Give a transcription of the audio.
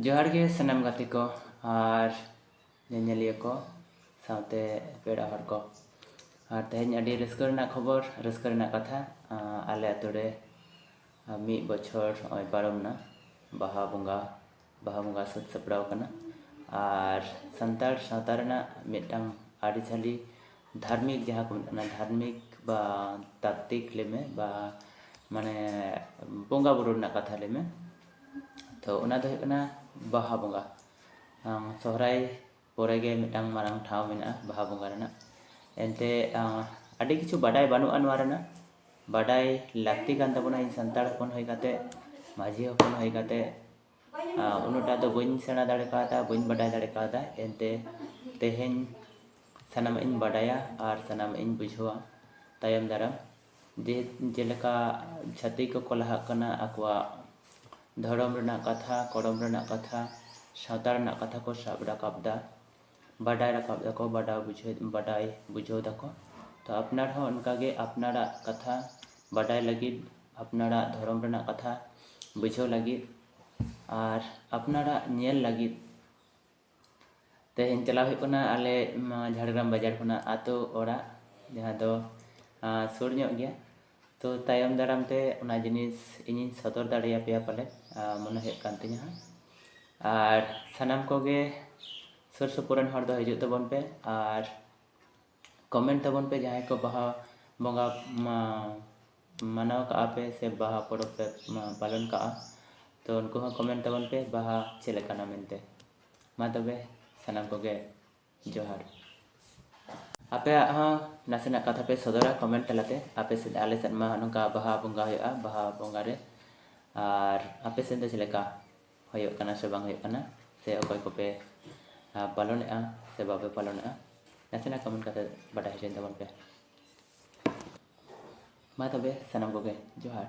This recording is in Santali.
ᱡᱚᱦᱟᱨ ᱜᱮ ᱥᱟᱱᱟᱢ ᱜᱟᱛᱮ ᱠᱚ ᱟᱨ ᱧᱮᱧᱮᱞᱤᱭᱟᱹ ᱠᱚ ᱥᱟᱶᱛᱮ ᱯᱮᱲᱟ ᱦᱚᱲ ᱠᱚ ᱟᱨ ᱛᱮᱦᱮᱧ ᱟᱹᱰᱤ ᱨᱟᱹᱥᱠᱟᱹ ᱨᱮᱱᱟᱜ ᱠᱷᱚᱵᱚᱨ ᱨᱟᱹᱥᱠᱟᱹ ᱨᱮᱱᱟᱜ ᱠᱟᱛᱷᱟ ᱟᱞᱮ ᱟᱛᱳ ᱨᱮ ᱢᱤᱫ ᱵᱚᱪᱷᱚᱨ ᱱᱚᱜᱼᱚᱭ ᱯᱟᱨᱚᱢᱮᱱᱟ ᱵᱟᱦᱟ ᱵᱚᱸᱜᱟ ᱵᱟᱦᱟ ᱵᱚᱸᱜᱟ ᱥᱟᱹᱛ ᱥᱟᱯᱲᱟᱣ ᱟᱠᱟᱱᱟ ᱟᱨ ᱥᱟᱱᱛᱟᱲ ᱥᱟᱶᱛᱟ ᱨᱮᱱᱟᱜ ᱢᱤᱫᱴᱟᱝ ᱟᱹᱨᱤᱪᱟᱹᱞᱤ ᱫᱷᱟᱨᱢᱤᱠ ᱡᱟᱦᱟᱸ ᱠᱚ ᱢᱮᱛᱟᱜ ᱠᱟᱱᱟ ᱫᱷᱟᱨᱢᱤᱠ ᱵᱟ ᱛᱟᱛᱛᱤᱠ ᱞᱟᱹᱭ ᱢᱮ ᱵᱟ ᱢᱟᱱᱮ ᱵᱚᱸᱜᱟ ᱵᱳᱨᱳ ᱨᱮᱱᱟᱜ ᱠᱟᱛᱷᱟ ᱞᱟᱹᱭ ᱢᱮ ᱛᱚ ᱚᱱᱟ ᱫᱚ ᱦᱩᱭᱩᱜ ᱠᱟᱱᱟ ᱵᱟᱦᱟ ᱵᱚᱸᱜᱟ ᱥᱚᱦᱨᱟᱭ ᱯᱚᱨᱮ ᱜᱮ ᱢᱤᱫᱴᱟᱝ ᱢᱟᱨᱟᱝ ᱴᱷᱟᱶ ᱢᱮᱱᱟᱜᱼᱟ ᱵᱟᱦᱟ ᱵᱚᱸᱜᱟ ᱨᱮᱱᱟᱜ ᱮᱱᱛᱮ ᱟᱹᱰᱤ ᱠᱤᱪᱷᱩ ᱵᱟᱰᱟᱭ ᱵᱟᱹᱱᱩᱜᱼᱟ ᱱᱚᱣᱟ ᱨᱮᱱᱟᱜ ᱵᱟᱰᱟᱭ ᱞᱟᱹᱠᱛᱤ ᱠᱟᱱ ᱛᱟᱵᱚᱱᱟ ᱤᱧ ᱥᱟᱱᱛᱟᱲ ᱦᱚᱯᱚᱱ ᱦᱩᱭ ᱠᱟᱛᱮ ᱢᱟᱹᱡᱷᱤ ᱦᱚᱯᱚᱱ ᱦᱩᱭ ᱠᱟᱛᱮ ᱩᱱᱟᱹᱜ ᱴᱟ ᱫᱚ ᱵᱟᱹᱧ ᱥᱮᱬᱟ ᱫᱟᱲᱮ ᱠᱟᱣᱫᱟ ᱵᱟᱹᱧ ᱵᱟᱰᱟᱭ ᱫᱟᱲᱮ ᱠᱟᱣᱫᱟ ᱮᱱᱛᱮ ᱛᱮᱦᱮᱧ ᱥᱟᱱᱟᱢᱟᱜ ᱤᱧ ᱵᱟᱰᱟᱭᱟ ᱟᱨ ᱥᱟᱱᱟᱢᱟᱜ ᱤᱧ ᱵᱩᱡᱷᱟᱹᱣᱟ ᱛᱟᱭᱚᱢ ᱫᱟᱨᱟᱢ ᱡᱮ ᱡᱮᱞᱮᱠᱟ ᱪᱷᱟᱹᱛᱤᱠ ᱠᱚᱠᱚ ᱞᱟᱦᱟᱜ ᱠᱟᱱᱟ ᱟᱠᱚᱣᱟᱜ ᱫᱷᱚᱨᱚᱢ ᱨᱮᱱᱟᱜ ᱠᱟᱛᱷᱟ ᱠᱚᱨᱚᱢ ᱨᱮᱱᱟᱜ ᱠᱟᱛᱷᱟ ᱥᱟᱶᱛᱟ ᱨᱮᱱᱟᱜ ᱠᱟᱛᱷᱟ ᱠᱚ ᱥᱟᱵ ᱨᱟᱠᱟᱵ ᱮᱫᱟ ᱵᱟᱰᱟᱭ ᱨᱟᱠᱟᱵ ᱮᱫᱟᱠᱚ ᱵᱟᱰᱟᱭ ᱵᱩᱡᱷᱟᱹᱣ ᱵᱟᱰᱟᱭ ᱵᱩᱡᱷᱟᱹᱣ ᱮᱫᱟᱠᱚ ᱛᱚ ᱟᱯᱱᱟᱨ ᱦᱚᱸ ᱚᱱᱠᱟ ᱜᱮ ᱟᱯᱱᱟᱨᱟᱜ ᱠᱟᱛᱷᱟ ᱵᱟᱰᱟᱭ ᱞᱟᱹᱜᱤᱫ ᱟᱯᱱᱟᱨᱟᱜ ᱫᱷᱚᱨᱚᱢ ᱨᱮᱱᱟᱜ ᱠᱟᱛᱷᱟ ᱵᱩᱡᱷᱟᱹᱣ ᱞᱟᱹᱜᱤᱫ ᱟᱨ ᱟᱯᱱᱟᱨᱟᱜ ᱧᱮᱞ ᱞᱟᱹᱜᱤᱫ ᱛᱮᱦᱮᱧ ᱪᱟᱞᱟᱣ ᱦᱩᱭᱩᱜ ᱠᱟᱱᱟ ᱟᱞᱮ ᱡᱷᱟᱲᱜᱨᱟᱢ ᱵᱟᱡᱟᱨ ᱠᱷᱚᱱᱟᱜ ᱟᱛᱳ ᱚᱲᱟᱜ ᱡᱟᱦᱟᱸ ᱫᱚ ᱥᱩᱨ ᱧᱚᱜ ᱜᱮᱭᱟ ᱛᱚ ᱛᱟᱭᱚᱢ ᱫᱟᱨᱟᱢ ᱛᱮ ᱚᱱᱟ ᱡᱤᱱᱤᱥ ᱤᱧᱤᱧ ᱥᱚᱫᱚᱨ ᱫᱟᱲᱮᱭᱟᱯᱮᱭᱟ ᱯᱟᱞᱮ ᱢᱚᱱᱮ ᱦᱩᱭᱩᱜ ᱠᱟᱱ ᱛᱤᱧᱟᱹ ᱦᱟᱸᱜ ᱟᱨ ᱥᱟᱱᱟᱢ ᱠᱚᱜᱮ ᱥᱩᱨ ᱥᱩᱯᱩᱨ ᱨᱮᱱ ᱦᱚᱲ ᱫᱚ ᱦᱤᱡᱩᱜ ᱛᱟᱵᱚᱱ ᱯᱮ ᱟᱨ ᱠᱚᱢᱮᱱᱴ ᱛᱟᱵᱚᱱ ᱯᱮ ᱡᱟᱦᱟᱸᱭ ᱠᱚ ᱵᱟᱦᱟ ᱵᱚᱸᱜᱟ ᱢᱟᱱᱟᱣ ᱠᱟᱜᱼᱟ ᱯᱮ ᱥᱮ ᱵᱟᱦᱟ ᱯᱚᱨᱚᱵᱽ ᱯᱮ ᱯᱟᱞᱚᱱ ᱠᱟᱜᱼᱟ ᱛᱚ ᱩᱱᱠᱩ ᱦᱚᱸ ᱠᱚᱢᱮᱱᱴ ᱛᱟᱵᱚᱱ ᱯᱮ ᱵᱟᱦᱟ ᱪᱮᱫ ᱞᱮᱠᱟᱱᱟ ᱢᱮᱱᱛᱮ ᱢᱟ ᱛᱚᱵᱮ ᱥᱟᱱᱟᱢ ᱠᱚᱜᱮ ᱡᱚᱦᱟᱨ ᱟᱯᱮᱭᱟᱜ ᱦᱚᱸ ᱱᱟᱥᱮᱱᱟᱜ ᱠᱟᱛᱷᱟ ᱯᱮ ᱥᱚᱫᱚᱨᱟ ᱠᱚᱢᱮᱱᱴ ᱛᱟᱞᱟᱛᱮ ᱟᱯᱮ ᱥᱮᱫ ᱟᱞᱮ ᱥᱮᱫ ᱢᱟ ᱱᱚᱝᱠᱟ ᱵᱟᱦᱟ ᱵᱚᱸᱜᱟ ᱦᱩᱭᱩᱜᱼᱟ ᱵᱟᱦᱟ ᱵᱚᱸᱜᱟ ᱨᱮ ᱟᱨ ᱟᱯᱮ ᱥᱮᱫ ᱫᱚ ᱪᱮᱫ ᱞᱮᱠᱟ ᱦᱩᱭᱩᱜ ᱠᱟᱱᱟ ᱥᱮ ᱵᱟᱝ ᱦᱩᱭᱩᱜ ᱠᱟᱱᱟ ᱥᱮ ᱚᱠᱚᱭ ᱠᱚᱯᱮ ᱯᱟᱞᱚᱱᱮᱫᱼᱟ ᱥᱮ ᱵᱟᱯᱮ ᱯᱟᱞᱚᱱᱮᱫᱼᱟ ᱱᱟᱥᱮᱱᱟᱜ ᱠᱚᱢᱮᱱᱴ ᱠᱟᱛᱮ ᱵᱟᱰᱟᱭ ᱦᱚᱪᱚᱧ ᱛᱟᱵᱚᱱ ᱯᱮ ᱢᱟ ᱛᱚᱵᱮ ᱥᱟᱱᱟᱢ ᱠᱚᱜᱮ ᱡᱚᱦᱟᱨ